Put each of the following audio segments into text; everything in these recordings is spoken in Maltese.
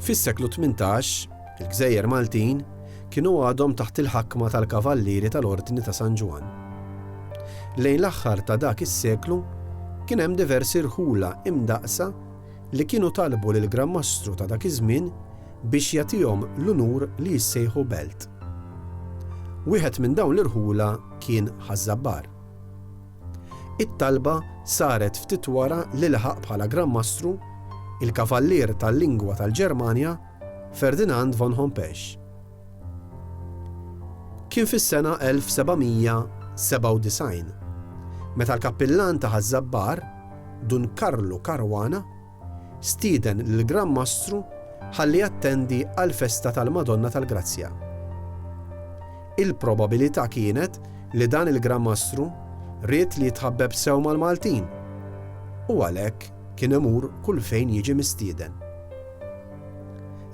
Fis-seklu tmintax, il-gżejjer Maltin kienu għadhom taħt il-ħakma tal-Kavallieri tal-Ordni ta' San Ġwann. Lejn l-aħħar ta' dak is-seklu, kien hemm diversi rħula imdaqqsa li kienu talbu lill-Gran Mastru ta' dak iż-żmien biex jagħtihom l-unur li jissejħu belt. Wieħed minn dawn l-irħula kien Ħaż-Żabbar. It-talba saret ftit wara li laħaq bħala Gran Mastru il-Kavallier tal-Lingwa tal-Ġermanja Ferdinand von Hompesch. Kien fis-sena 1797 meta l-Kappillan ta' Ħaż-Żabbar, Dun Karlu Caruana, stieden lill-Gran Mastru ħalli jattendi għall-festa tal-Madonna tal-Grazzja. Il-probabilità kienet li dan il-Gran Mastru ried li jitħabbeb sew mal-Maltin u għalhekk kien imur kull fejn jiġi mistieden.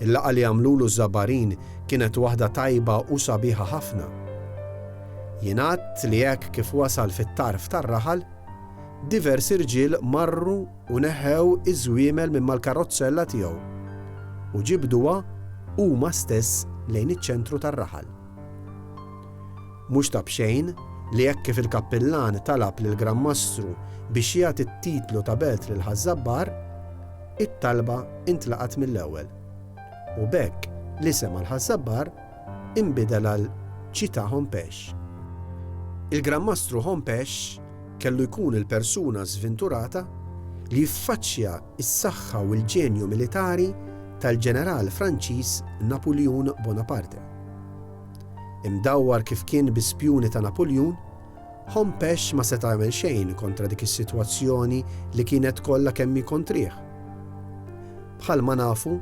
Il-laqgħa li għamlulu ż-Żabarin kienet waħda tajba u sabiħa ħafna. Jingħad li hekk kif wasal fit-tarf tar-raħal, diversi rġiel marru u neħħew iż-żwiemel minn mal-karrozzella tiegħu u ġibduha huma stess lejn iċ-ċentru tar-raħal. Mhux ta' b'xejn li hekk kif il-kappillan talab lill-Gran Mastru biex jagħti t-titlu ta' belt lil Ħaż-Żabbar, it-talba intlaqgħet mill-ewwel, u b'hekk l-isem għal Ħaż-Żabbar inbidel għal Ċità Hompesch. Il-Gran Mastru Hompesch kellu jkun il-persuna żvinturata li jiffaċċja s-saħħa u l-ġenju militari tal-ġeneral Franċiż Napuljun Bonaparte. Imdawwar kif kien bi spjuni ta' Napuljun, Hompesch ma seta' jagħmel xejn kontra dik is-sitwazzjoni li kienet kollha kemm hi kontrih. Bħalma nafu,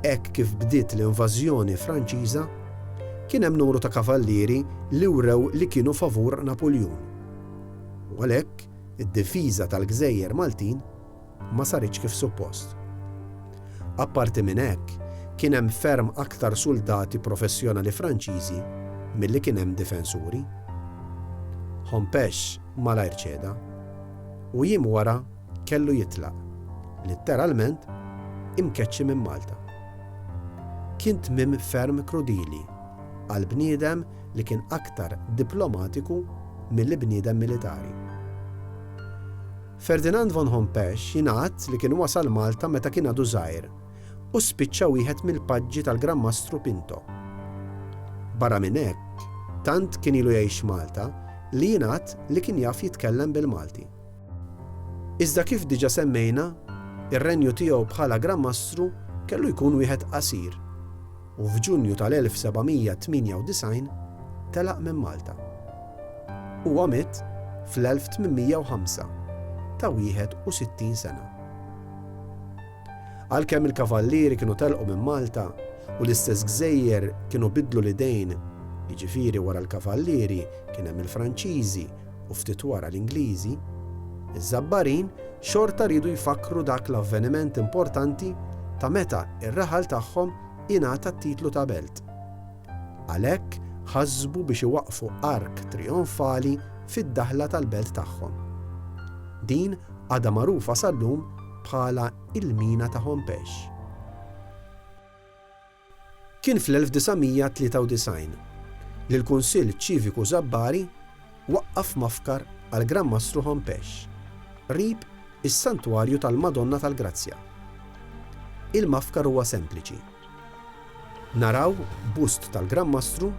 hekk kif bdiet l-invażjoni Franċiża, kien hemm numru ta' kavallieri li wrew li kienu favur Napuljun. U għalhekk, id-difiża tal-gżejjer Maltin ma saritx kif suppost. Apparti minn hekk, kien hemm ferm aktar suldati professjonali Franċiżi milli kien hemm difensuri. Hompesch malajr ċeda, u jiem wara, kellu jitlaq, litteralment, imkeċċi minn Malta. Kien tmiem ferm krudili għal bniedem li kien aktar diplomatiku milli bniedem militari. Ferdinand von Hompesch jingħad li kien wasal Malta meta kien għadu żgħir u spiċċa wieħed mill-paġġi tal-Gran Mastru Pinto. Barra minn hekk, tant kien ilu jgħix Malta li jingħad li kien jaf jitkellem bil-Malti. Iżda kif diġà semmejna, ir-renju tiegħu bħala Gran Mastru kellu jkun wieħed qasir, u f'Ġunju tal-1798 telaq minn Malta. Huwa miet fl-1805 ta' 61 sena. Għalkemm il-Kavallieri kienu telqu minn Malta u l-istess gżejjer kienu biddlu l-idejn, jiġifieri wara l-Kavallieri kien hemm il-Franċiżi, u ftit wara l-Ingliżi, iż-Żabbarin xorta riedu jfakkru dak l-avveniment importanti ta' meta r-raħal tagħhom ingħata t-titlu ta' belt. Għalhekk ħasbu biex iwaqqfu ark trijonfali fid-daħla tal-belt tagħhom. Din għadha magħrufa sal-lum bħala il-Mina ta' Hompesch. Kien fl-1993 li l-Kunsill Ċiviku Żabbari waqqaf mafkar għall-Gran Mastru Hompesch qrib is-Santwarju tal-Madonna tal-Grazzja. Il-mafkar huwa sempliċi. Naraw bust tal-Gran Mastru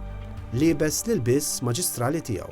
liebes l-ilbies maġistrali tiegħu.